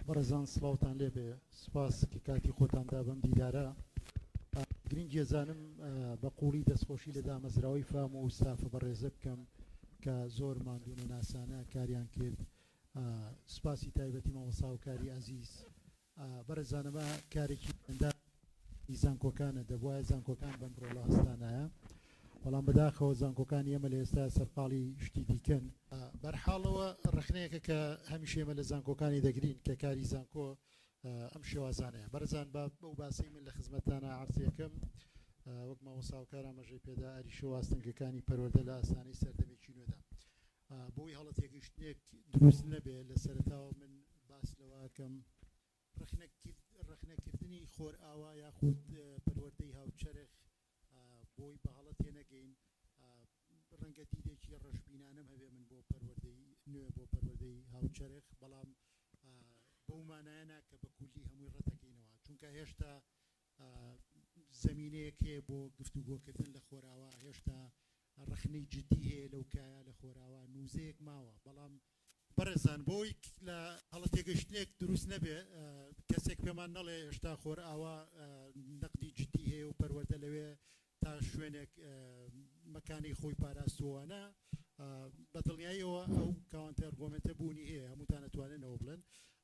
بەڕێزان سڵاوتان لێبێ سپاس کە کاتی خۆتان دا بەم دیدارە گرنگی زانم بە قوڵی دەستخۆشی لە دامەزراوەی فام و سافە بەڕێزە بکەم کە زۆر مادونە ناسانە کاریان کرد سپاسی تایبەتی مەوەسااوکاری ئازیز ئا بەڕێزان ئەمە کارێکی ئەندام ی زانکۆکانە دەبوایە زانکۆکان بەم ڕۆڵە هەستانایە بەڵام بەداخەوە زانکۆکانی ئێمە لە ئێستا سەرقاڵی شتی دیکەن ئا بەرحاڵەوە ڕەخنەیەکە کە هەمیشە ئێمە لە زانکۆکانی دەگرین کە کاری زانکۆ ئەم شێوازانەیە بەڕێزان با بەو باسەی من لە خزمەتتانە عەرزی ئەکەم وەک مامۆستا هاوکار ئاماژەی پێدا ئاریشە و ئاستەنگەکانی پەروەردە لە ئاستانەی سەردەمێکی نوێدا بۆی هەڵە تێگەیشتنێک دروست نەبێ لە سەرەتاوە من باس لەوە ئەکەم ڕەخنەکردنی خۆرئاوا یاخود پەروەردەی هاوچەرخ بۆی بە هەڵە تێنەگەین ڕەنگە دیدێکی ڕەشبینانەم هەبێ من بۆ پەروەردەی نوێ بۆ پەروەردەی هاوچەرخ بەڵام بەو مانایەنا کە بە کولی هەمووی ڕەتەکەینەوە چونکە هێشتا زمینەیەک هەیە بۆ گفتوگۆکردن لە خۆراوا هێشتا ڕەخنەی جدی هەیە لەو کایە لە خۆراوا نوزەیەک ماوە بەڵام بەڕێزان بۆ ئەوەی لە هەڵە تێگەشتنێک دروست نەبێ کەسێک پێمان نەڵێ هێشتا خۆرئاوا نەقدی جدی هەیە و پەروەردە لەوێ تا شوێنێک مەکانی خۆی پاراستووانە بە دڵنیاییەوە ئەو کاوانتە ئەرگۆمنتە بوونی هەیە هەمووتان ئەتوانێنەوە بڵێن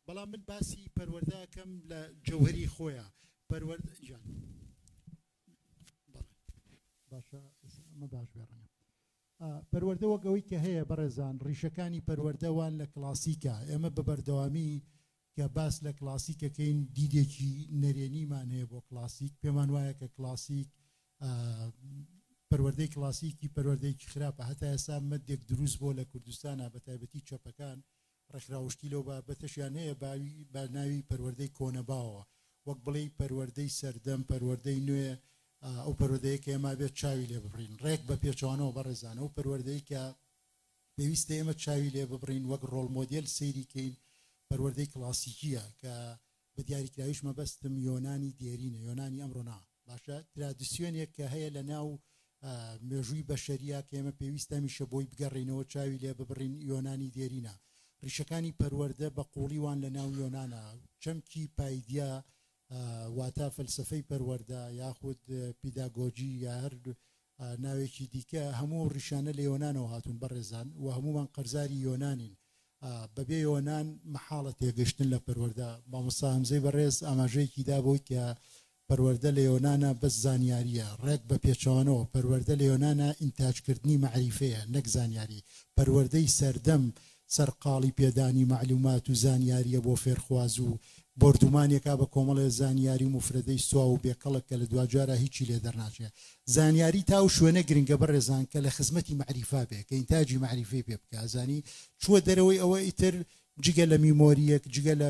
بەڵام من باسی پەروەردەکەم لە جەوهری خۆیان پەروەرد جان. باشە ئەمە باش بێ ڕەنگە پەروەردە وەک ئەوەی کە هەیە بەڕێزان ڕیشەکانی پەروەردەوان لە کلاسیکە ئێمە بە بەردەوامی کە باس لە کلاسیکەکەین دیدێکی نەرێنیمان هەیە بۆ کلاسیک پێمان وایە کە کلاسیک پەروەردەی کلاسیکی پەروەردەیەکی خراپە هەتا ئێستا مەدێک دروست بۆ لە کوردستانە بە تایبەتی چەپەکان ڕێکخراو شتی لەو بابەتەشیان هەیە باوی بە ناوی پەروەردەی کۆنە باوە وەک بڵێی پەروەردەی سەردەم پەروەردەی نوێ ئەو پەروەردەیە کە ئێمە ئەبێت چاوی لێ ببڕین ڕێک بە پێچەوانەوە بەڕێزان ئەو پەروەردەی کە پێویستە ئێمە چاوی لێ ببڕین وەک ڕۆڵ مۆدێل سەیری کەین پەروەردەی کڵاسیکیە کە بە دیاریکراویش مەبەستم یۆنانی دێرینە، یۆنانی ئەمڕۆ نا، باشە ترادسیۆنێک کە هەیە لە ناو مێژووی بەشەریە کە ئێمە پێویستە هەمیشە بۆی بگەڕێینەوە چاوی لێ ببڕین، یۆنانی دێرینە ڕیشەکانی پەروەردە بە قووڵی وان لە ناو یۆنانا، چەمکی پایدیا واتە فەلسەفەی پەروەردە یاخود پیداگۆجی یا هەر بە ناوێکی دیکە هەموو ئەو ڕیشانە لە یۆنانەوە هاتوون بەڕێزان و هەموومان قەرزاری یۆنانین بەبێ یۆنان مەحاڵە تێگەشتن لە پەروەردە مامۆستا هەمزەی بەڕێز ئاماژەیەکی دا بۆی کە پەروەردە لە یۆنانە بەس زانیاریە ڕێک بە پێچەوانەوە پەروەردە لە یۆنانە ئینتاجکردنی مەعریفەیە نەک زانیاری پەروەردەی سەردەم سەرقاڵی پێدانی مەعلومات و زانیارییە بۆ فێرخواز و بۆردومانێکە بە کۆمەڵێ زانیاری و موفرەدەی سواو و بێکەڵک کە لە دواجارا هیچی لێ دەرناچێ. زانیاری تا ئەو شوێنە گرنگە بەڕێزان کە لە خزمەتی مەعریفا بێ کە ئینتاجی مەعریفەی پێ بکا ئەزانی چووە دەرەوەی ئەوە ئیتر جگە لە میمۆرییەک جگە لە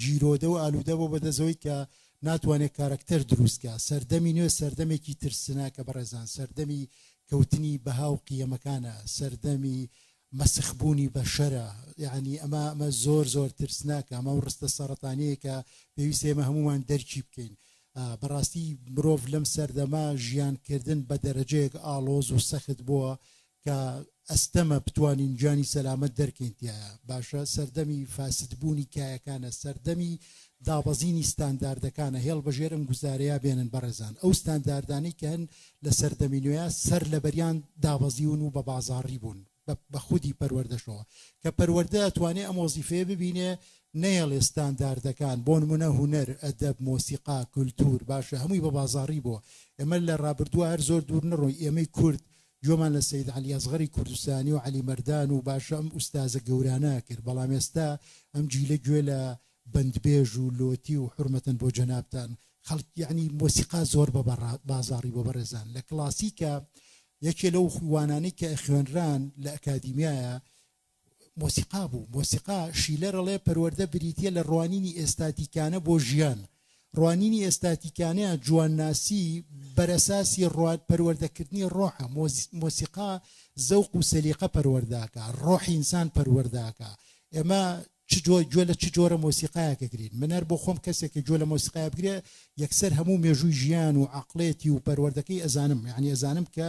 گیرۆدە و ئالوودە بۆ بەدەسەوەی کە ناتوانێت کارەکتەر دروست کا سەردەمی نوێ سەردەمێکی ترسناکە بەڕێزان سەردەمی کەوتنی بەها و قیەمەکانە سەردەمی مەسخ بوونی بەشەرە یعنی ئەمە ئەمە زۆر زۆر ترسناکە ئەمە و ڕستە سەرەتانەیە کە پێویست ئێمە هەمومان دەرکی بکەین بەڕاستی مرۆڤ لەم سەردەما ژیانکردن بە دەرەجەیەک ئاڵۆز و سەخت بووە کە ئەستەمە بتوانین گیانی سەلامەت دەرکەین تیایا باشە سەردەمی فاسدبوونی کایەکانە سەردەمی دابەزینی ستانداردەکانە هێڵ بەژێر ئەم گوزارەیە بێنن بەڕێزان ئەو ستانداردانی کە هەن لە سەردەمی نوێە سەر لە بەریان دابەزیون و بە بازاڕی بوون بە خودی پەروەردەشەوە کە پەروەەردە توانێ ئەم وەزیفەیە ببینێ نەیەڵێ ستانداردەکان بۆ نمونە هوەر ئەدەب مۆسیقا کولتور باشە هەمووی بە بازاڕی بۆ ئێمە لە ڕابردووە هەر زۆر دوور نڕۆی ئێمەی کورد گوێمان لە سەید عەلی ئەسغەری کوردستانی و عەلی مەردان و باشە ئەم ئوستازە گەورانە ئەکرد بەڵام ئێستا ئەم جیلە گوێ لە بەندبێژ و لۆتی و حورمەتەن بۆ جەنابتان خەڵک یەعنی مۆسیقا زۆر بە بازاڕی بۆ بەڕێزان لە کڵاسیکە یەکێ لەو وانانەی کە ئەخوێنران لە ئەکادیمیایە مۆسیقا بوو مۆسیقا شیلەر ئەڵێ پەروەردە بریتیە لە ڕوانینی ئێستاتیکانە بۆ ژیان ڕوانینی ئێستاتیکانەیە جوانناسی بەرەساسی ڕوات پەروەردەکردنی ڕۆحە مۆسیقا زەوق و سەلیقە پەروەرداکە ڕۆحی ئینسان پەروەرداکە ئێمە چ جۆر گوێ لە چ جۆرە مۆسیقایەکەگرین من هەر بۆ خۆم کەسێکە گوێ لە مۆسیقای بگرێ یەکسەر هەموو مێژووی ژیان و عقلێتی و پەروەردەکەی ئەزانم یعنی ئەزانم کە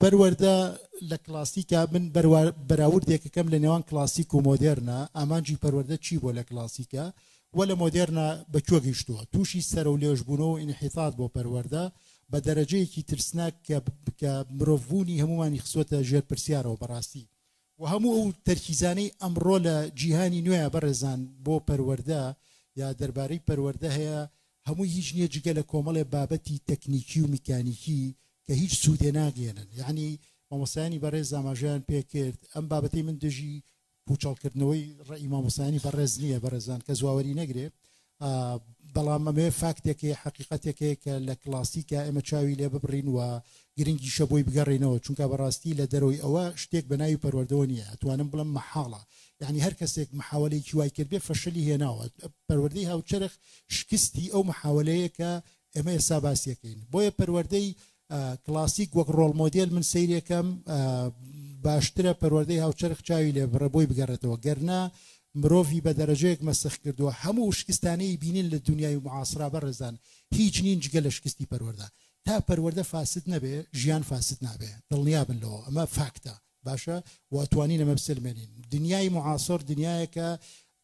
پەروەردە لە کلاسیکا من بەراوردێکەکەم لە نێوان کلاسیک و مۆدێرنا ئامانجی پەروەردە چی بۆ لە کلاسیکە و لە مۆدێرنا بەکوێ گەیشتووە تووشی سەر و لێژبوونەوە و ئینحیتات بۆ پەروەردە بە دەرەجەیەکی ترسناک کە مرۆڤبوونی هەمومانی خسوەتە ژێر پرسیارەوە بەڕاستی وە هەموو ئەو تەرکیزانەی ئەمڕۆ لە جیهانی نوێیا بەڕێزان بۆ پەروەردە یا دەربارەی پەروەردە هەیە هەمووی هیچ نیە جگە لە کۆمەڵێ بابەتی تەکنیکی و میکانیکی کە هیچ سودێ ناگەیەنن یەعنی مامۆستایانی بەڕێز ئاماژەیان پێکرد ئەم بابەتەی من دژی پوچەڵکردنەوەی ڕێی مامۆستایانی بەڕێز نیە بەڕێزان کەس واوەری نەگرێ بەڵام ئەمەیە فاکتێک هەیە حەقیقەتێک هەیە کە لە کلاسیکە ئێمە چاوی لێ ببڕین و گرنگیشە بۆی بگەڕێنەوە چونکە بەڕاستی لە دەرەوەی ئەوە شتێک بە ناوی پەروەردەوە نییە ئەتوانم بڵم مەحاڵە یعنی هەر کەسێک محاولێکی وای کردێ فەشلی هێناوە پەروەردەی هاوچەرخ شکستی ئەو محاولەیە کە ئێمە ئێستا باسیەکەین بۆیە پەروەردەی کلاسیک وەک ڕۆڵ مۆدێل من سەیرێکەم باشترە پەروەردەی هاوچەرخ چاوی لێ بڕێ بۆی بگەڕێتەوە گەرنا مرۆڤی بە دەرەجەیەک مەسخ کردووە هەموو شکستانەی بینین لە دنیای معاسرا بەڕێزان هیچ نین جگە لە شکستی پەروەەردە تا پەروەەردە فاسد نەبێ ژیان فاسد نابێ دڵنیا بن لەوە ئەمە فاکتە باشە واتوانین ئەمە بسلمێنین دنیای معاسۆر دنیایەکە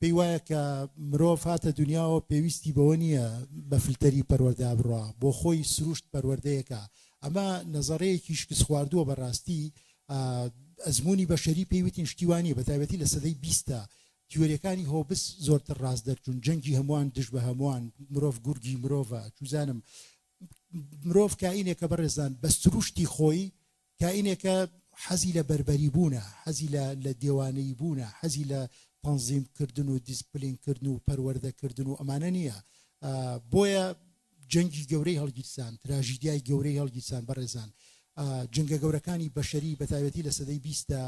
پێی وایە کە مرۆڤ هاتە دونیاوە پێویستی بەوە نییە بە فلتەری پەروەردە بڕوا، بۆ خۆی سروشت پەروەردەیەکە. ئەمە نەزەڕەیەکی شکستخواردووە بە ڕاستی ئەزموونی بەشەری پێی وتین شتی وا نییە، بە تایبەتی لە سەدەی بیستە تیۆریەکانی هۆبس زۆرتر ڕاست دەرچوون، جەنگی هەمووان دژ بە هەمووان، مرۆڤ گورگی مرۆڤە، چوزانم مرۆڤ کائینێکە بەڕێزان بە سروشتی خۆی کائینێکە حەزی لە بەربەری بوونە، حەزی لە لە دێوانەیی بوونە، حەزی لە تەنزیم کردن و دیسپلین کردن و پەروەردە کردن و ئەمانە نییە. بۆیە جەنگی گەورەی هەڵگیرسان، تراژیدیای گەورەی هەڵگیرسان بەڕێزان. جەنگە گەورەکانی بەشەری بە تایبەتی لە سەدەی بیستدا،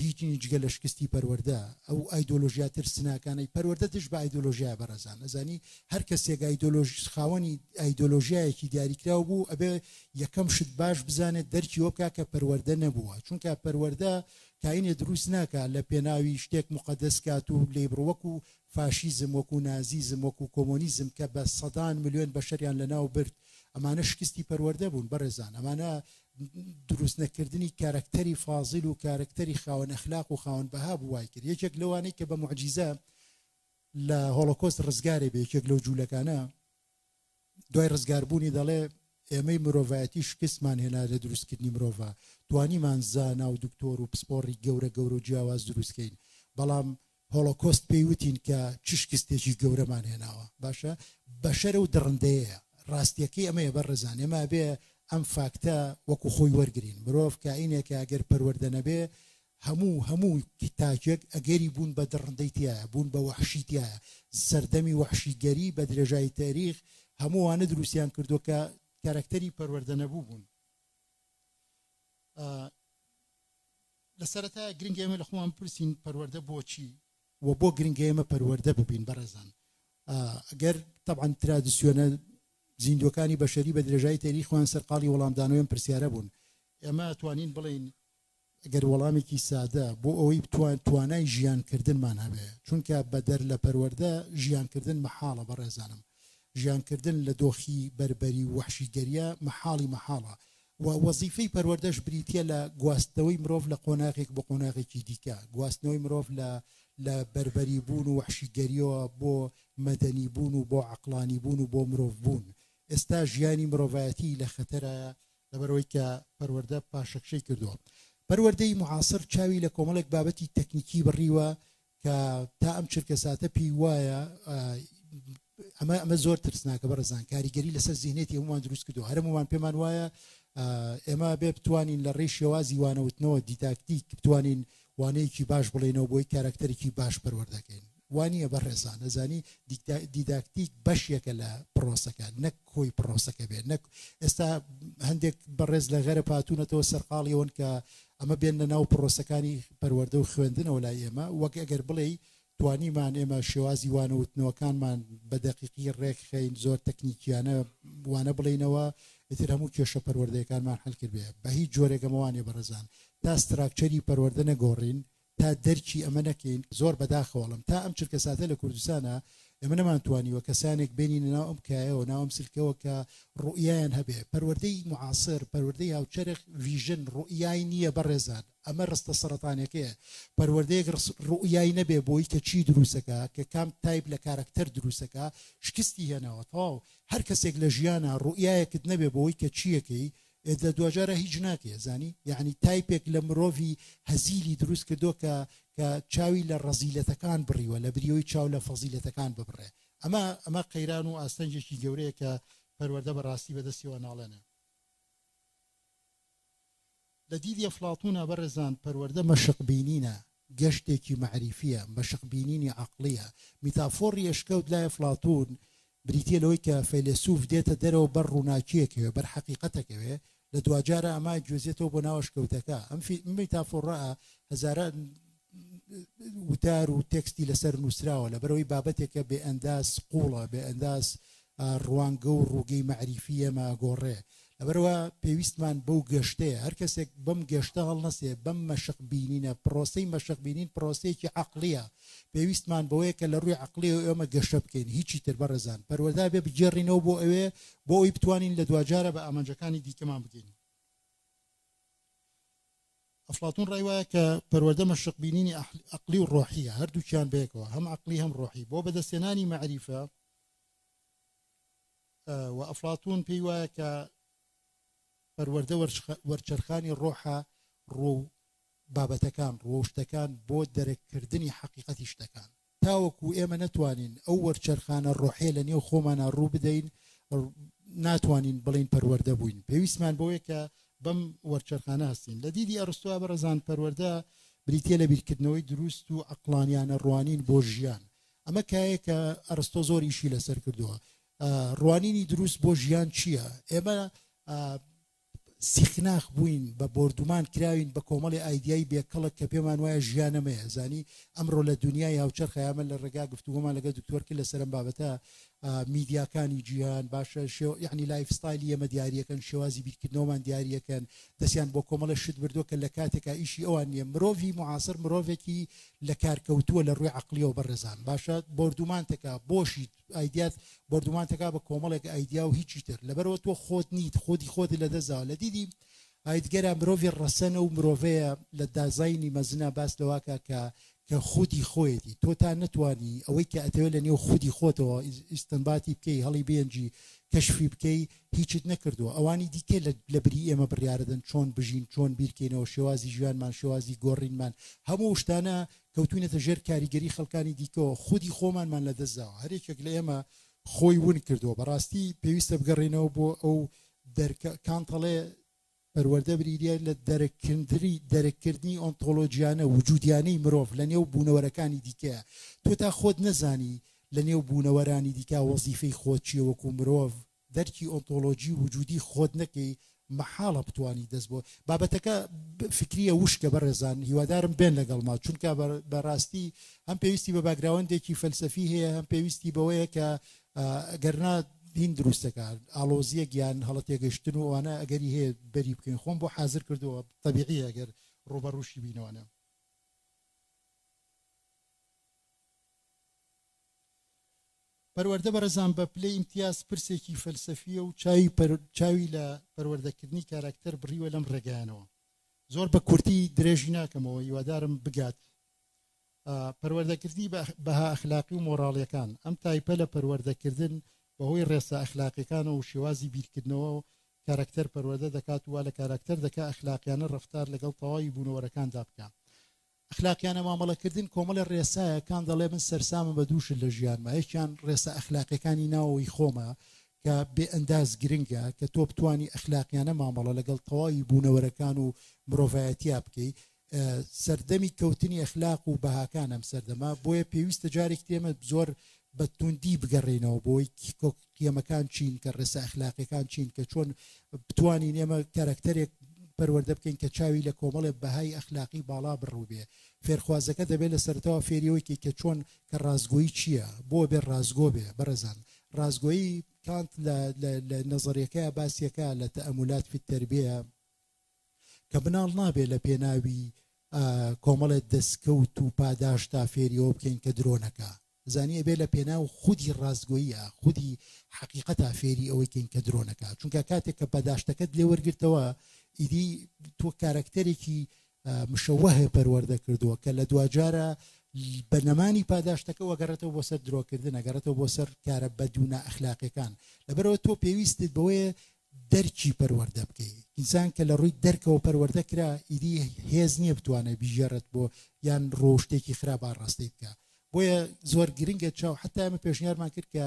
هیچ نین جگە لە شکستی پەروەردە، ئەو ئایدۆلۆژیا ترسناکانەی پەروەردە دژ بە ئایدۆلۆژیایە بەڕێزان ئەزانی هەر کەسێک ئایدۆلۆژ خاوەنی ئایدۆلۆژیایەکی دیاریکراو بوو ئەبێ یەکەم شت باش بزانێت دەرکی وە بکا کە پەروەردە نەبووە چونکە پەروەردە کاینێ دروست ناکا لە پێناوی شتێک مقەدەس کات و لێی بڕ وەکو فاشیزم وەکو نازیزم وەکو کۆمۆنیزم کە بە سەدان ملیۆن بەشەریان لەناو برد ئەمانە شکستی پەروەردە بوون بەڕێزان ئەمانە دروست نەکردنی کارەکتەری فازیل و کارەکتەری خاوەن ئەخلاق و خاوەن بەها بوو وای کرد یەکێک لەوانەی کە بە معجیزە لە هۆڵۆکۆست ڕزگارێ بێ یەکێک لەو جوولەکانە دوای ڕزگاربوونی دەڵێ ئێمەی مرۆڤایەتی شکستمان هێنا لە دروستکردنی مرۆڤە توانیمان زانا و دکتۆر و پسپۆڕی گەورە گەورە و جیاواز دروستکەین بەڵام هۆڵۆکۆست پێی وتین کە چ شکستێکی گەورەمان هێناوە باشە بەشەر و دڕندەیەیە ڕاستیەکەی ئەمەیە بەڕێزان ئێمە ئەبێ ئەم فاکتە وەکو خۆی وەرگرین مرۆڤ کائینێکە ئەگەر پەروەردە نەبێ هەموو هەموو تاکێک ئەگەری بوون بە دڕندەی تایە بوون بە وەحشی تایە سەردەمی وەحشیگەری بە درێژایی تاریخ هەمووانە دروستیان کردو کە کارەکتەری پەروەردە نەبوو بوون لە سەرەتایە گرنگە ئێمە لە خۆمان بپرسین پەروەردە بۆچی و بۆ گرنگە ئێمە پەروەردە ببین بەڕێزان گەر تەبعەن ترادیسیۆنە زیندوەکانی بەشەری بە درێژای تێری خوان سەرقاڵی وەڵامدانەوەم پرسیارە بوون ئێمە توانین بڵین گەر وەڵامێکی سادە بۆ ئەوەی بتوان توانای ژیانکردنمان هەبێ چونکە بەدەر لە پەروەەردە ژیانکردن مەحاڵە بە ڕێزانم ژیانکردن لە دۆخی بربەری و وحشیگەریە مەحاڵی مەحاڵە و وەزیفەی پەروەردەش بریتیە لە گواستنەوەی مرۆڤ لە قۆناغێک بۆ قۆناغێکی دیکە، گواستنەوەی مرۆڤ لە لە بەربەری بوون و وەحشیگەریەوە بۆ مەدەنی بوون و بۆ عەقڵانی بوون و بۆ مرۆڤ بوون. ئێستا ژیانی مرۆڤایەتی لە خەتەرایە، لەبەرئەوەی کە پەروەردە پاشەکشەی کردووە. پەروەردەی معاصر چاوی لە کۆمەڵێک بابەتی تەکنیکی بڕیوە کە تا ئەم چرکەساتە پێی وایە ئەمە ئەمە زۆر ترسناکە بەڕزان کاریگەری لەسەر زیهنێتی هەمووان دروست کردو هەرم ومان پێمان وایە ئێمە بێ بتوانین لە ڕێی شێوازی وانەوتنەوە دیداکتیک بتوانین وانەیەکی باش بڵێنەوە بۆی کارکتەرێکی باش پەروەردەکەین وانە بە ڕێزان ئەزانی دیداکتیک بەشێکە لە پرۆسەکە نەک کۆی پرۆسەکە بێت نەک ئێستا هەندێک بەڕێز لە غەرە پاتونەتەوە سەرقاڵیەوەن کە ئەمە بێننە ناو پڕۆسەکانی پەروەردە و خوێندنەوە لای ئێمە، وەک ئەگەر بڵێی توانیمان ئێمە شێوازی وانە وتنەوەکانمان بە دەقیقی ڕێکخەین، زۆر تەکنیکییانە وانە بڵێینەوە، ئیتر هەموو کێشە پەروەردەیەکانمان حەل کردبێ، بە هیچ جۆرێک ئەمە وا نییە بەڕێزان، تا ستراکچەری پەروەردە نەگۆڕین، تا دەرکی ئەمە نەکەین زۆر بەداخەوە ئەڵێم تا ئەم چرکەساتە لە کوردستانا ئێمە نەمانتوانیوە کەسانێک بێنینە ناو ئەم کایەوە ناو ئەم سلکەوە کە ڕوئیایان هەبێ پەروەردەی معاصر پەروەردەی هاوچەرخ ڤیژن ڕوئیای نییە بەڕێزان ئەمە ڕستە سەرەتانەکەیە پەروەردەیەک ڕوئیای نەبێ بۆی کە چی دروستەکە کە کام تایپ لە کارەکتەر دروستەکە شکستی هێناوە تەواو هەر کەسێک لە ژیانە ڕوئیایەکت نەبێ بۆی کە چیەکەی ئێ دە دواجارە هیچ ناکەیە زانی یەعنی تایپێک لە مرۆڤی هەزیلی دروست کردۆ کە کە چاوی لە ڕەزیلەتەکان بڕیوە لە بریەوەی چاو لە فەزیلەتەکان ببڕێ ئەمە ئەمە قەیران و ئاستەنگێکی گەورەیە کە پەروەەردە بە ڕاستی بەدەستیەوە ناڵێنێ لە دیدی ئەفڵاتونا بەڕێزان پەروەەردە مەشق بینینە گەشتێکی مەعریفییە، مەشق بینینی عەقڵییە. میتافۆڕی ئەشکەوت لای ئەفڵاتوون بریتییە لەوەی کە فەیلەسووف دێتە دەرەوە بەر ڕووناکییەکەوێ، بەر حەقیقەتەکەوێ، لە دواجارە ئەمە ئەیگوێزێتەوە بۆ ناو ئەشکەوتەکە. ئەم میتافۆڕە هەزاران وتار و تێکستی لەسەر نووسراوە، لەبەرئەوەی بابەتێکە بێئەنداز قووڵە، بێئەنداز ڕوانگە و ڕووگەی مەعریفی ئێمە ئەگۆڕێ لەبەرئەوە پێویستمان بەو گەشتەیە هەر کەسێک بەم گەشتە هەڵنەسێ بەم مەشق بینینە پرۆسەی مەشق بینین پرۆسەیەکی عەقڵیە پێویستمان بەوەیە کە لە ڕووی عەقڵی و ئێمە گەشە بکەین هیچی تر بەڕێزان پەروەردە بێ بگێڕینەوە بۆ ئەوێ بۆ ئەوی بتوانین لە دواجارە بە ئامانجەکانی دیکەمان بگەین ئەفلاتون ڕای وایە کە پەروەردە مەشق بینینی عەقڵی و ڕۆحیە هەردووکیان بەیەکەوە هەم عەقڵی هەم ڕۆحی بۆ بەدەستێنانی مەعریفە و ئەفڵاتوون پێی وایە کە پەروەردە وەرچەرخانی ڕۆحە ڕۆ و بابەتەکان ڕۆ و شتەکان بۆ دەرککردنی حەقیقەتی شتەکان تاوەکو ئێمە نەتوانین ئەو وەرچەرخانە ڕۆحێ لە نێو خۆمانە ڕوو بدەین ناتوانین بڵین پەروەەردە بووین پێویستمان بۆیە کە بەم وەرچەرخانە هەستین لە دیدی ئەرستوە بەڕزان پەروەەردە بریتە لە بیرکردنەوەی دروست و ئەقلانیانە ڕوانین بۆ ژیان ئەمە کایەیە کە ئەرستۆ زۆر ئیشی لەسەر کردووە ڕوانینی دروست بۆ ژیان چییە ئێمە سیخناخ بووین بە بردومان کراوین بە کۆمەڵی ئایدیایی بێکەڵک کە پێمان وایە ژیانەمەیە زانی ئەمڕۆ لە دنیای هاوچەرخەیامە لە ڕێگا گفتوگۆمان لەگە دکتۆرکی لە سەرم بابەتە میدیاکانی جیهان باشە شێ یەعنی لایف ستایلی ئێمە دیاریەکەن شێوازی بیرکردنەوەمان دیاریەکەن دەستیان بۆ کۆمەڵە شت بردووە کە لە کاتێکا ئیشی ئەوان نییە مرۆڤی معاصر مرۆڤێکی لە کار کەوتووە لە ڕووی عەقلیەوە بەڕێزان باشە بۆردومانتەکە بۆشیت ئایدیات بۆردومانتەکە بە کۆمەڵێک ئایدیا و هیچی تر لەبەرەوە تۆ خۆت نیت خۆدی خۆت لە دەستداوە لە دیدی ئایدگەرا مرۆڤی ڕەسەنە و مرۆڤەیە لە دازاینی مەزنە باس لەواکە کە کە خودی خۆیەتی تۆ تا نەتوانی ئەوەی کە ئەتەوێ لە نێو خودی خۆتەوە ئیستنباتی بکەی هەڵی بێنجی کەشفی بکەی هیچت نەکردووە ئەوانی دیکە لە بری ئێمە بڕیاردەن چۆن بژین چۆن بیرکەینەوە شێوازی ژیانمان شێوازی گۆڕینمان هەموو شتانە کەوتوینەتە ژێر کاریگەری خەڵکانی دیکەوە خودی خۆمانمان لە دەستداوە هەرێکێک لە ئێمە خۆی ون کردووە بەڕاستی پێویستە بگەڕێنەوە بۆ ئەو دەرکە کانتەڵێ پەروەردە بریتییە لە دەرک کردنی ئۆنتۆلۆژیانە، وجودیانەی مرۆڤ لە نێو بوونەوەرەکانی دیکەیا. تۆ تا خۆت نەزانی لە نێو بوونەوەرانی دیکە وەزیفەی خۆت چییە وەکوو مرۆڤ، دەرکی ئۆنتۆلۆژی وجودی خۆت نەکەی مەحاڵە بتوانی دەست بۆ. بابەتەکە فکرییە وشکە بەڕێزان هیوادارم بێن لەگەڵما چونکە بە ڕاستی هەم پێویستی بە باکگراوەندێکی فەلسەفی هەیە هەم پێویستی بەوەیە کە گەرنا دین دروستەکە ئاڵۆزیە گیان هەڵە تێگەشتن و ئەوانە ئەگەری هەیە بەری بکەین خۆم بۆ حاضر کردەوە طبیعی ئەگەر ڕوبە ڕوشی بینەوەە پەروەەردە بەرەزان بە پلەی ئیمتیاز پرسێکی فەلسەفیە و چاوی چاوی لە پەروەردەکردنی کاراکتەر بڕیوە لەم ڕێگەیانەوە زۆر بە کورتی درێژی ناکەمەوە هیوادارم بگات پەروەردەکردنی بەها ئەخلاقی و مۆڕاڵیەکان، ئەم تایپە لە پەروەردەکردن بەهۆی ڕێسا ئەخلاقیەکانەوە و شێوازی بیرکردنەوە و کاراکتەر پەروەردە دەکات و وا لە کاراکتەر دەکا ئەخلاقیانە ڕەفتار لەگەڵ تەواوی بوونەوەرەکاندا بکا. ئەخلاقیانە مامەڵەکردن کۆمەڵێ ڕێسایە، کان دەڵێ من سەرسامم بە دوو شت لە ژیانما، یەکیان ڕێسا ئەخلاقیەکانی ناوەوەی خۆمە کە بێ ئەنداز گرنگە کە تۆ بتوانی ئەخلاقیانە مامەڵە لەگەڵ تەواوی بوونەوەرەکان و مرۆڤایەتیا بکەی، سەردەمی کەوتنی ئەخلاق و بەهاکان ئەم سەردەمە بۆیە پێویستە جارێک تێمە زۆر بە توندی بگەڕێنەوە بۆی قیەمەکان چین کە ڕێسا ئەخلاقەکان چین کە چۆن بتوانین ئێمە کارکتەرێک پەروەردە بکەین کە چاوی لە کۆمەڵێ بەهای ئەخلاقی باڵا بڕوبێ فێرخوازەکە دەبێت لە سەرتەوە فێریەوەیکی کە چۆن کە ڕازگۆیی چییە بۆ بێ ڕازگۆ بێ بەڕێزان ڕازگۆیی کانت لە نەزەرەکە باسیەکە لە تەمولات فی تربیە کە مناڵ نابێ لە پێناوی کۆمەڵێ دەسکەوت و پاداشتا فێری ئەوە بکەین کە درۆ نەکا زانی ئەبێ لە پێناو خودی ڕاستگۆییا خودی حەقیقەتا فێری ئەوەی کەین کە درۆ نەکا چونکە کاتێک کە پاداشتەکەت لێ وەرگرتەوە ئیدی تۆ کارەکتەرێکی مشەوە هەیە پەروەردە کردووە کە لە دواجارە بە نەمانی پاداشتەکە وەگەڕێتەوە بۆ سەر درۆکردن ئەگەڕێتەوە بۆ سەر کارە بەدوونا ئەخلاقەکان لەبەرەوە تۆ پێویستت بەوەیە دەرکی پەروەردە بکەی ئینسان کە لە ڕووی دەرکەوە پەروەردە کرا ئیدی هێز نییە بتوانێت بیژێڕێت بۆ یان ڕۆشتێکی خراپ ئاڕاستەی بکە بۆیە زۆر گرنگە چاو حتا ئەمە پێشنیارمان کرد کە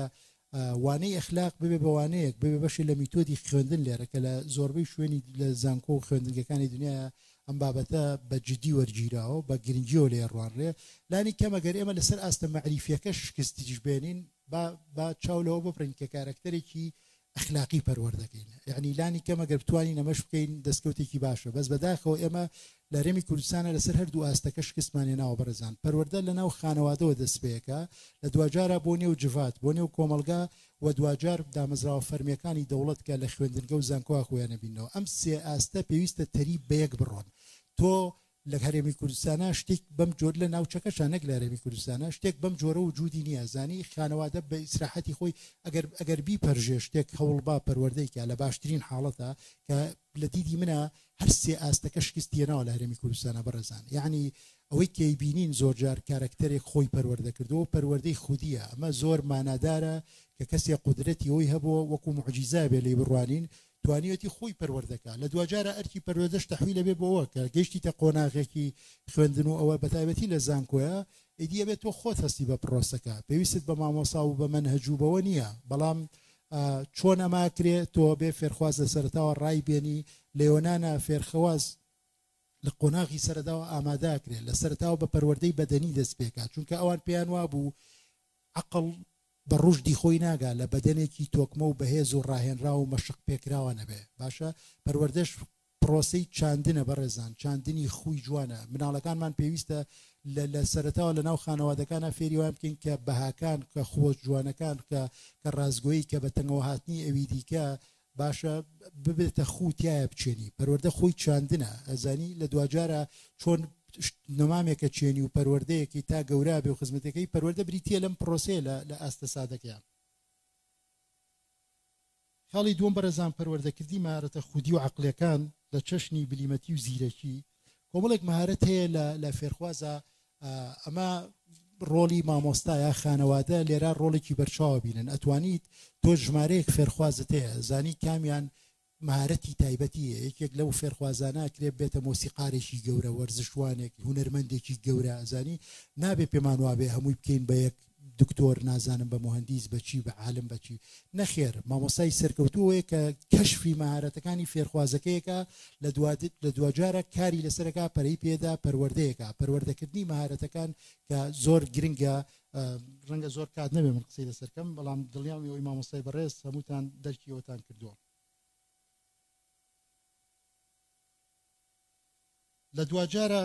وانەی ئەخلاق ببێ بەوانەیەک ببێ بەشی لە میتۆدی خوێندن لێرە کە لە زۆربەی شوێنی لە زانکۆ و خوێندنگەکانی دنیا ئەم بابەتە بە جددی وەرگیراوە بە گرنگیەوە لێ ڕوانڕێ لانی کەمەگەر ئێمە لەسەر ئاستە مەعریفیەکە شکستیش بێنین با چاو لەوە ببڕین کە کارکتەرێکی ئەخلاقی پەروەردەکەین یعنی لانی کەم ئەگەر بتوانین ئەمەش بکەین دەستکەوتێکی باشە بەس بەداخەوە ئێمە لەرێمی کوردستانە لەسەر هەردوو ئاستەکە شکستمانێ ناوە بەڕێزان پەروەەردە لە ناو خانەوادەوە دەستپێەکە لە دواجارە بۆ نێو جڤات بۆ نێو کۆمەلگا و دواجار دامەزراوە فەرمیەکانی دەوڵەت کە لە خوێندنگە و زانکۆوا خۆیانە بینەوە ئەم سێ ئاستە پێویستە تەریب بەیەک بڕۆن تۆ لە هەرێمی کوردستانا شتیک بەم جۆر لە ناوچەکەشا نەک لە هەرێمی کوردستانا شتێک بەم جۆرە وجودی نیە زانی خانەوادە بە ئیسراحەتی خۆی ئەگەر ئەگەر بیپەرژێ شتێک هەوڵبا پەروەردەی کا لە باشترین حاڵەتا کە لە دیدی منە هەر سێ ئاستەکە شکستی هێناوە لە هەرێمی کوردستانا بەڕێزان یعنی ئەوەی کەی بینین زۆر جار کارەکتەرێک خۆی پەروەردە کردەوە پەروەردەی خودیە ئەمە زۆر مانادارە کە کەسێ قودرەتی ئەوی هەبووە وەکو معجیزا بێ لێی بڕوانین توانیویەتی خۆی پەروەردە کا لە دواجارە ئەرکی پەروەردەش تەحویل ئەبێ بۆ ئەوە کە گەیشتیتە قۆناغێکی خوێندن و ئەوە بەتایبەتی لە زانکۆیە ئیدی ئەبێ تۆ خۆت هەستی بە پڕۆسەکە پێویستت بە مامۆسا و بە مەنهەج و بەوە نییە بەڵام چۆن ئەما کرێ تۆ بێ فێرخواز لە سەرتاوە ڕای بێنی لە یۆنانا فێرخواز لە قۆناغی سەرەداوە ئاماداکرێت لە سەرتاوە بە پەروەردەی بەدەنی دەست پێکات چونکە ئەوان پێیان وابوو عقل بە ڕوشدی خۆی ناگا لە بەدەنێکی تۆکمە و بەهێز و ڕاهێنراو و مەشق پێکراوە نەبێ باشە پەروەردەش پڕۆسەی چاندنە بەڕێزان چاندنی خووی جوانە مناڵەکانمان پێویستە لە لە سەرەتاوە لە ناو خانەوادەکانا فێری وایان بکەین کە بەهاکان کە خووە جوانەکان کە کە ڕاستگۆیی کە بە تەنگەوە هاتنی ئەوی دیکە باشە ببێتە خوو تیایا بچێنی پەروەردە خۆی چاندنە ئەزانی لە دواجارا چۆن نەمامێکە چێنی و پەروەردەیەکی تا گەورابێ و خزمەتەکەی پەروەردە بریتە لەم پرۆسەیە لە لە ئاستە سادەکەیان. خاڵی دووەم بەڕێزان پەروەردەکردی مەهارەتە خودی و عەقڵیەکان لە چەشنی بلیمەتی و زیرەکی کۆمەڵێک مەهارەت هەیە لە لە فێرخوازە ئەمە ڕۆڵی مامۆستایە خانەوادە لێرا ڕۆڵێکی بەرچاوە بینن ئەتوانیت تۆ ژمارەیەک فێرخوازت هەیە زانی کامیان مهارەتی تایبەتیە یەکێک لەو فێرخوازانە کرێ بێتە مۆسیقارێکی گەورە وەرزشوانێک هوەرمەندێکی گەورە ئەزانی نابێ پێمان وابێ هەمووی بکەین بە یەک دکتۆر نازانم بە موهەندیس بە چی بە عالم بە چی نەخێر مامۆستای سەرکەوتوو ئەوەیە کە کەشفی مەهارەتەکانی فێرخوازەکەیەکە لە دوا لە دواجارە کاری لەسەرەکە پەرەی پێدا پەروەردەیەکە پەروەردەکردنی مەهارەتەکان کە زۆر گرنگە ڕەنگە زۆر کات نەبێ من قسەی لەسەرکەم بەڵام دڵیان ئەوی مامۆستای بەڕێز هەمووتان دەرکیەوەتان کردووە لە دواجارە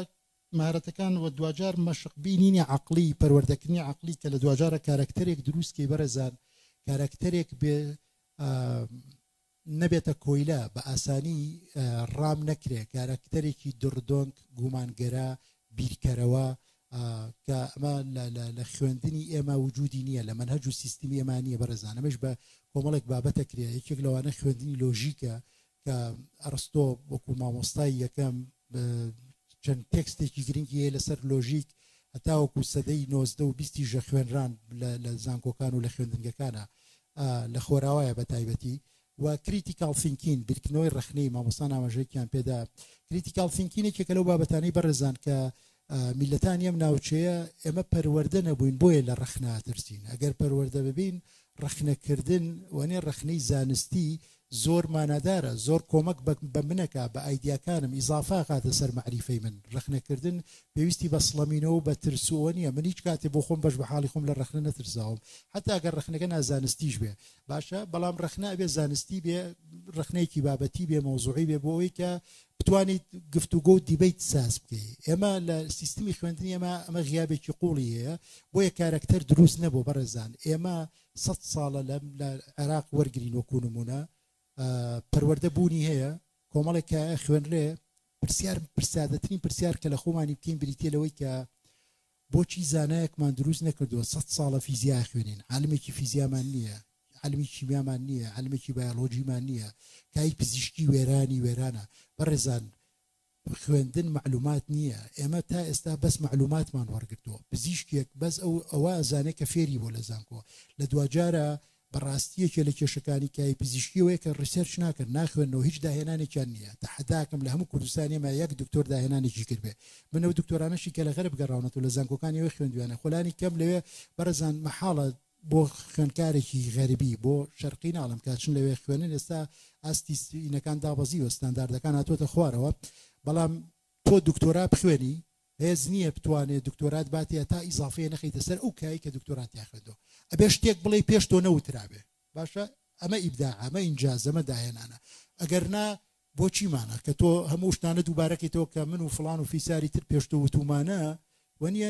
مەهارەتەکان و دواجار مەشق بینینی عەقڵی پەروەردەکردنی عەقڵی کە لە دواجارە کارەکتەرێک دروست کەی بەڕێزان کارەکتەرێک بێ نەبێتە کۆیلە بە ئاسانی ڕام نەکرێ کارەکتەرێکی دڕدۆنگ گومانگەرە بیرکەرەوە کە ئەمە لە خوێندنی ئێمە وجودی نییە لە منهج و سیستمی ئێمانە بەڕێزانەمەش بە کۆمەڵێک بابەتە کرێ یەکێک لەوانە خوێندنی لۆژیکە کە ئەرستۆ وەکو مامۆستای یەکەم چەند تێکستێکی گرنگی هەیە لەسەر لۆژیک هەتاوەکو سەدەی نۆزدە و بیستی ژە خوێنران لە زانکۆکان و لە خوێندنگەکانە لە خۆراوایە بە تایبەتی و کریتیکال فینکین بیرکردنەوەی ڕخنەی مامۆستان ئاماژەیەکیان پێدا کریتیکال فینکینێکێکە لەو بابەتانی بەڕێزان کە میللەتانی ئەم ناوچەیە ئێمە پەروەردە نەبووین بۆیە لە ڕەخنە ئەترسین ئەگەر پەروەردە ببین ڕەخنەکردن وانێ ڕەخنەی زانستی زۆر مانادارە زۆر کۆمەک بە منەکە بە ئایدیاکانم ئیزافا کاتە سەر مەعریفەی من ڕەخنەکردن پێویستی بە سڵەمینەوە بە ترسووە نییە من هیچ کاتێ بۆ خۆم بەش بە حاڵی خۆم لە ڕەخنە نەترساوم حتا ئەگەر ڕەخنەکە نازانستیش بێ باشە بەڵام ڕەخنە بێ زانستی بێ ڕەخنەیەکی بابەتی بێ مۆزوعی بێ بۆ ئەوی کە بتوانیت گفتوگۆ و دیبەیت ساز بکەی ئێمە لە سیستمی خوێندنی ئێمە ئەمە غیابێکی قوڵی هەیە بۆیە کارەکتەر دروست نەبوو بەڕێزان ئێمە سەد ساڵە لەم لە عێراق وەرگین وەکو نمونە پەروەەردە بوونی هەیە کۆمەڵێک کە خوێنرێ پرسیار پرسیادەترین پرسیار کە لە خۆمانی بکەین بریتە لەوەی کە بۆچی زانایەکمان دروست نەکردووە سەد ساڵە فیزیا ئەخوێنین عالمێکی فیزیامان نییە عالمی کیمیامان نییە عالمێکی بایۆلۆژیمان نییە کای پزیشکی وێرانی وێرانە بەڕێزان خوێندن معلومات نییە ئێمە تا ئێستا بەس معلوماتمان وەرگتووە پزیشکێک بەس ئەو ئەوە ئەزانێت کە فێری بۆ لە زانکۆ لە دواجارە بەڕاستی یەکێ لە کێشەکانی کای پزیشکی ئەوەیە کە ڕیسێرچ ناکەن ناخوێنەوە هیچ داهێنانێکیان نییە تەحەداکەم لە هەموو کوردستان ئێمە یەک دکتۆر داهێنانێکی کردبێ من ئەو دکتۆرانەشی کە لە غەرب گەڕاونەتەوە لە زانکۆکانی ئێوەی خوێندویانە خۆ لانی کەم لەوێ بەڕێزان مەحاڵە بۆ خوێندکارێکی غەربی بۆ شەرقی ناڵم کە چون لەوێ خوێنن ئێستا ئاستی سینەکان دابەزیوە ستانداردەکان هاتووەتە خوارەوە بەڵام تۆ دکتۆرا بخوێنی هێز نیە بتوانێ دکتۆرات باتێ تا ئیزافەیە نەخەیتە سەر ئەو کایەی کە دکتۆرات تیا خوێندوە ئەبێ شتێک بڵێی پێش تۆ نەوترابێ باشە ئەمە ئیبداعە ئەمە ئینجازە ئەمە داهێنانە ئەگەر نا بۆ چیمانە کە تۆ هەموو شتانە دووبارەکەیتەوە کە من و فڵان و فیساری تر پێش تۆ وتومانە و نیە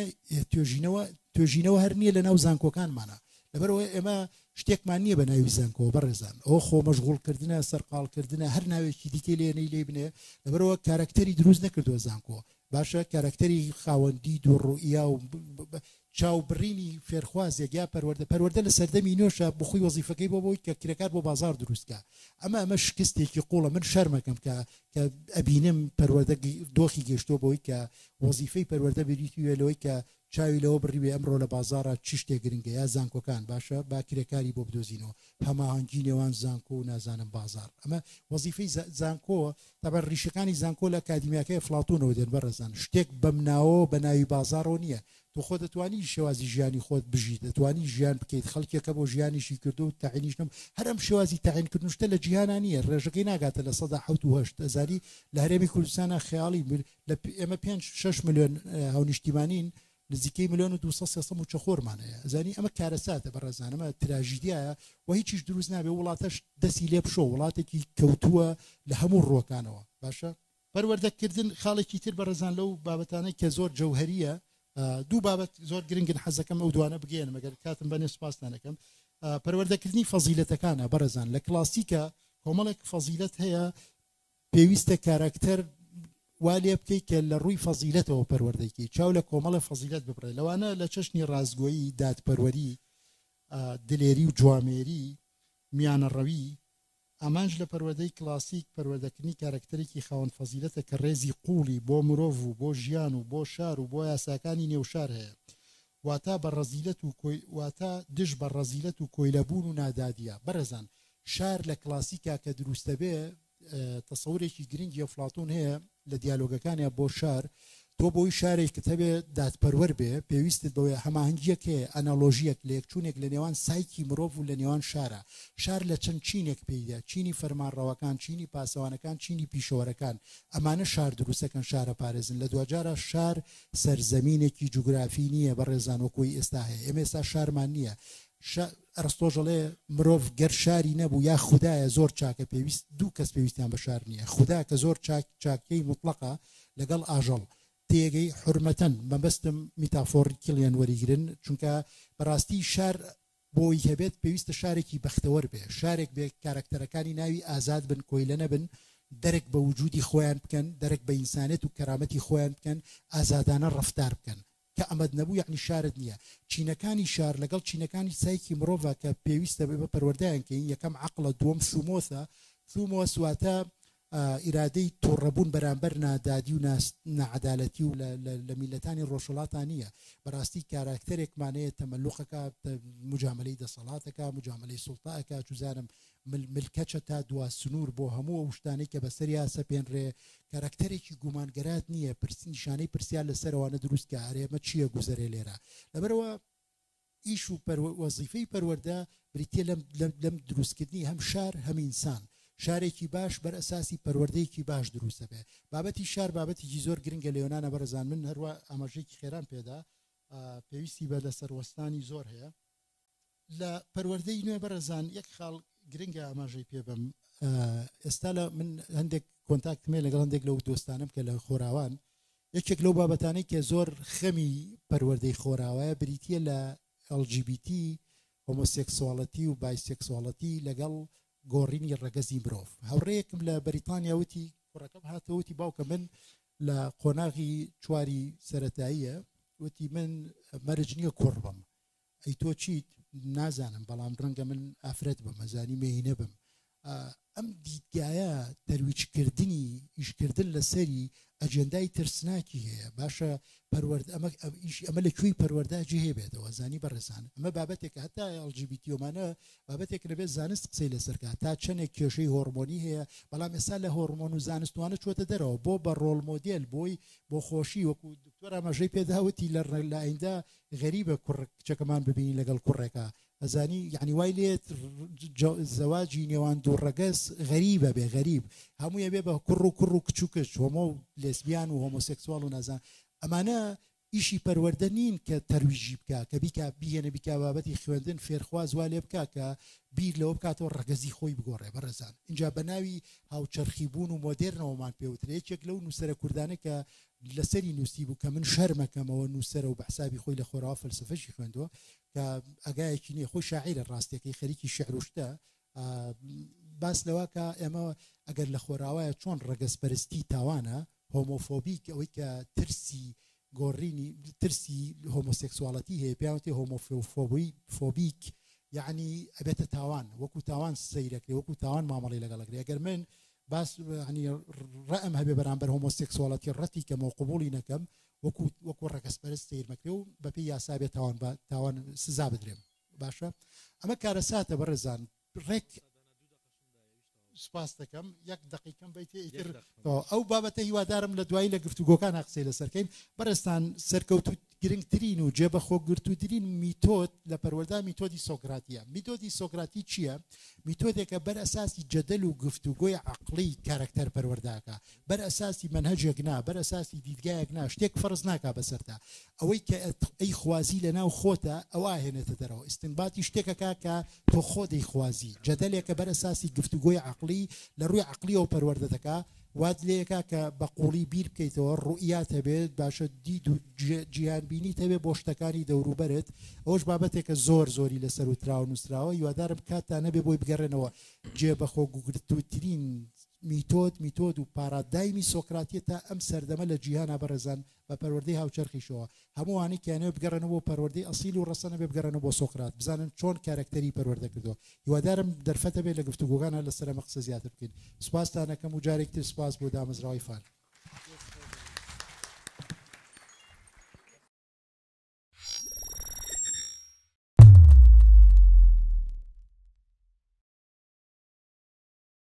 توێژینەوە توێژینەوە هەر نییە لە ناو زانکۆکانمانە لەبەرەوەی ئێمە شتێکمان نییە بە ناوی زانکۆ بەڕێزان ئەو خۆ مەشغولکردە سەرقالکردە هەر ناوێکی دیکەی لێنەی لێ بنێ لەبەرەوە کارکتەری دروست نەکردووە زانکۆ باشە کارەکتەری خاوەن دید و ڕوئیا و چاو بڕینی فێرخوازێک یا پەروەردە پەروەردە لە سەردەمی نوێشە بۆ خۆی وەزیفەکەی بۆ بۆی کە کرێکار بۆ بازار دروست کا ئەمە ئەمە شکستێکی قوڵە من شەرمەکەم کە کە ئەبینم پەروەردە دۆخی گەشتۆ بۆی کە وەزیفەی پەروەردە بریتی وێ لەوەی کە چاوی لەوە بڕیوێ ئەمڕۆ لە بازاڕا چی شتێ گرنگە یا زانکۆکان باشە با کرێکاری بۆ بدۆزینەوە هەماهەنگی نێوان زانکۆ و نازانم بازاڕ ئەمە وەزیفەی زانکۆ تەبەر ڕیشەکانی زانکۆ لە ئەکادیمیاکەی ئەفڵاتونەوە دێن بەڕێزان شتێک بەم ناوەوە بە ناوی بازاڕەوە نییە تۆ خۆ دەتوانی شێوازی ژیانی خۆت بژی دەتوانی ژیان بکەیت خەڵکێکە بۆ ژیانیشی کردو و تەعینیش نەم هەر ئەم شێوازی تەعینکردنشتە لە جیهانا نییە ڕێژەکەی ناگاتە لە سەدا حەوت و هەشت ئەزانی لە هەرێمی کوردستانە خەیاڵی لە ئێمە پێنج شش میلیۆن هاونیشتیمانین نزیکەی میلیۆن و 200 سێسە موچە خۆرمان هەیە زانی ئەمە کارەساتە بە ڕێزانەمە تراژیدایە و هیچیش دروست نابێ وڵاتەش دەسی لێ بشۆ وڵاتێکی کەوتووە لە هەموو ڕۆکانەوە باشە پەروەردەکردن خاڵێکی تر بە ڕێزان لەو بابەتانەی کە زۆر جەوهریە دوو بابەت زۆر گرنگن حەزەکەم ئەو دوانە بگەێن مەگەر کاتم بەنێ سپاستانەکەم پەروەردەکردنی فەزیلەتەکانە بەڕێزان لە کلاسیکە کۆمەڵێک فەزیلەت هەیە پێویستە کاراکتەر وا لێ بکەیت کە لە ڕووی فەزیلەتەوە پەروەردەی کەیت چاو لە کۆمەڵە فەزیلەت ببڕێ لەوانە لە چەشنی ڕاستگۆیی دادپەروەری دلێری و جوامێری میانەڕەوی ئامانج لە پەروەدەی کلاسیک پەروەدەکردنی کارکتەرێکی خاوەن فەزیلەتە کە ڕێزی قوڵی بۆ مرۆڤ و بۆ ژیان و بۆ شار و بۆ یاساکانی نێوشار هەیە واتا بە ڕەزیلەت و کۆی واتا دژ بە ڕەزیلەت و کۆیلەبوون و نادادیە بەڕێزان شار لە کلاسیکا کە دروست دەبێ تەسەورێکی گرنگی ئەفلاتون هەیە لە دیالۆگەکانیان بۆ شار تۆ بۆی شارێکت هەبێ دادپەروەر بێ پێویستت بەوەیە هەماهنگیەک هەیە ئەنەلۆژیەک لێکچوونێک لە نێوان سایکی مرۆڤ و لە نێوان شارە شار لە چەند چینێک پێیدا چینی فەرمانڕەوەکان چینی پاسەوانەکان چینی پیشەوەرەکان ئەمانە شار دروستەکەن شارە پارێزن لە دواجارە شار سەرزەمینێکی جوگرافی نییە بە ڕێزان وەکۆی ئێستا هەیە ئێمە ئێستا شارمان نییە شار ئەرستۆش ئەڵێ مرۆڤ گەر شاری نەبوو یا خودایە زۆر چاکە پێویست دوو کەس پێویستیان بە شار نییە خودا کە زۆر چاک چاکیی مطلقە لەگەڵ ئاژەڵ تێگەی حرمەتەن مەبەستم میتافۆڕی کلیان وەریگرن چونکە بەڕاستی شار بۆی هەبێت پێویستە شارێکی بەختەوەر بێ شارێک بێ کارکتەرەکانی ناوی ئازاد بن کۆیلە نەبن دەرک بە وجودی خۆیان بکەن دەرک بە ئینسانێت و کەرامەتی خۆیان بکەن ئازادانە ڕفتار بکەن کە ئەمەت نەبوو یەعنی شارت نیە. چینەکانی شار لەگەڵ چینەکانی سایکی مڕۆڤە کە پێویستە ئێمە پەروەردەیان کەین یەکەم عەقڵە دووەم سومۆسە، Thumos، واتە ئیرادەی توڕەبوون بەرامبەر نادادی و نا ناعەدالەتی و لە میللەتانی ڕۆژهەڵاتا نیە بەڕاستی کاراکتەرێکمان هەیە تەمەلوقەکا مجامەلەی دەسەڵاتەکا مجامەلەی سوڵتە ئەکا چوزانم مل مل کەچە تا دوا سنور بۆ هەموو ئەو شتانەی کە بەسەریا سەپێنرێ کەرەکتەرێکی گومانگەرات نییە پرس نیشانەی پرسیار لەسەرەوانە دروست کە ئەرێ ئەمە چییە گوزەرێ لێرە لەبەرەوە ئیش و پەرو وەزیفەی پەروەردە بریتیە لەم لەم دروستکردنی هەم شار هەم ئینسان شارێکی باش بەر ئەساسی پەروەردەیەکی باش دروستە بێ بابەتی شار بابەتیی زۆر گرنگە لێۆنانە بەرەزان من هەروە ئاماژەیەکی خێرام پێدا پێویستی بە لەسەر وەستانی زۆر هەیە لە پەروەردەی نوێ بەڕێزان یەک خاڵ گرنگە ئاماژەی پێ بەم ئێستا لە من هەندێک کۆنتاکتمێ لەگەڵ هەندێک لەو دۆستانم کە لە خۆراوان یەکێک لەو بابەتانەی کە زۆر خەمی پەروەردەی خۆراوایە بریتە لە LGBT هۆمۆسێکسواڵەتی و بایسێکسواڵەتی لەگەڵ گۆڕینی ڕەگەزی مرۆڤ هاوڕەیەکم لە بەریتانیا وتی کوڕەکەم هاتەوەتی باوکە من لە قۆناغی چواری سەتاییە وتی من مەرج نییە کوڕ بم ئەی تۆ چیت؟ نازانم بەڵام ڕەنگە من ئافرەت بم ئەزانی مێینە بم ئەم دیدگایە تەرویجکردنی ئیشکردن لەسەری ئەجێندای ترسناکی هەیە باشە پەروەرد ئەمە ئیش ئەمە لە کوێی پەروەەردا جێ بێتەوە زانی بەڕێزان ئەمە بابەتێکە هەتا ئەڵجیبیتیۆمانە بابەتێک لەبێت زانست قسەی لەسەرکە تا چەندێک کێشەی هۆرمۆنی هەیە بەڵام ئێستا لە هۆرمۆن و زانستوانە چۆتە دەرەوە بۆ بە ڕۆل مۆدیل بۆی بۆ خۆشی وەکو دکتۆر ئاماژەی پێداوتی لە ڕێلایندا غەریبە کوڕ کچەکەمان ببینی لەگەڵ کوڕێکە ئەزانی یعنی وای لێت زەواجی نێوان دوو ڕەگەز غەریبە بێ غەریب هەموویە بێ بە کوڕ و کوڕ و کچ و کچ هۆمۆ و لێسبیان و هۆمۆسێکسوال و نازان ئەمانە ئیشی پەروەەردە نین کە تەرویژی بکە کە بیکا بیێنە بیکا بابەتی خوێندن فێرخواز وا لێ بکە کە بیر لەوە بکاتەوە ڕگەزی خۆی بگۆڕێ بەڕێزان اینجا بە ناوی هاوچەرخی بوون و مۆدررنەوەمان پێوترێکێک لەو نووسرە کوردانە کە لەسەری نوسیبوو کە من شەرمەکەمەوە نوسەرە و بەحسابی خۆی لە خۆراوە فەلسفەشی خوێندوە کە ئەگایەکی نیە خۆی شاعیرە ڕاستەکەی خەریکی شعروشتە باس لەواکە ئێمە ئەگەر لە خۆراوایە چۆن ڕەگەز پەرستی تاوانە هۆمۆفۆبیک ئەوەی کە ترسی گۆڕینی ترسی هۆمۆسێکسواڵەتی هەیە پیاوتی هۆمۆفۆبی فۆبیک یعنی ئەبێتە تاوان وەکو تاوان سەیرەکرێ وەکو تاوان مامەڵی لەگەڵەکرێ گەر من باس یانی ڕەئم هەبێ بەرامبەر هۆمۆسێکسواڵەتی ڕەتی کەمەوە قبوڵی نەکەم وەکو وەکو ڕەگەز پەرست سەیر مەکرێ و بەپێی یاسا بێ تاوان بە تاوان سزا بدرێم باشە ئەمە کارەساتە بەڕێزان ڕێک سپاس دەکەم یەک دقیقم بیت ئیتر ئەو بابەتە هیوادارم لە دوایی لە گفتوگۆکان قسەی لەسەرکەین بەڕێستان سەرکەوتوت گرنگترین و جێبەخۆگرتووترین میتۆد لە پەروەردە میتۆدی سۆکراتیە میتۆدی سۆکراتی چییە میتۆدێکە بەر ئەساسی جەدەل و گفت و گۆی عقلی کارکتەر پەروەرداکە بەر ئەساسی منهجێک نا بەر ئەساسی دیدگایەک نا شتێک فەرز ناکا بەسەردا ئەوەی کە ئەی خوازی لە ناو خۆتە ئەو ئاهێنێتە دەرەوە ئستنباتی شتێکەکە کە تۆ خۆ دەیخوازی جەدەلێکە بەر ئەساسی گفتوگۆی عقلی لە ڕووی عقلیەوە پەروەردە دەکا وات لێکا کە بە قووڵی بیر بکەیتەوە، ڕوئیات هەبێت، باشە دید و جیهان بینیت هەبێت بۆ شتەکانی دەوروبەرت، ئەوەش بابەتێکە زۆر زۆری لەسەر وتراوە و نووسراوە، هیوادارم کاتتان هەبێت بۆی بگەڕێنەوە، جێ بە خۆگوگرتووترین میتۆد، میتۆد و پارادایمی سۆکراتیە تا ئەم سەردەمە لە جیهانا بەڕێزان بە پەروەردەی هاوچەرخیشەوە، هەموو ئەوانەی کەیانەوێت بگەڕێنەوە بۆ پەروەردەی ئەسیل و ڕەسەن ئەبێت بگەڕێنەوە بۆ سۆقرات بزانن چۆن کارەکتەری پەروەردە کردووە. هیوادارم دەرفەتە بێت لە گفتوگۆکان هەر لەسەر ئەمە قسە زیاتر بکەین. سوپاستان ئەکەم و جارێکی تر سوپاس بۆ دامەزراوەی فان.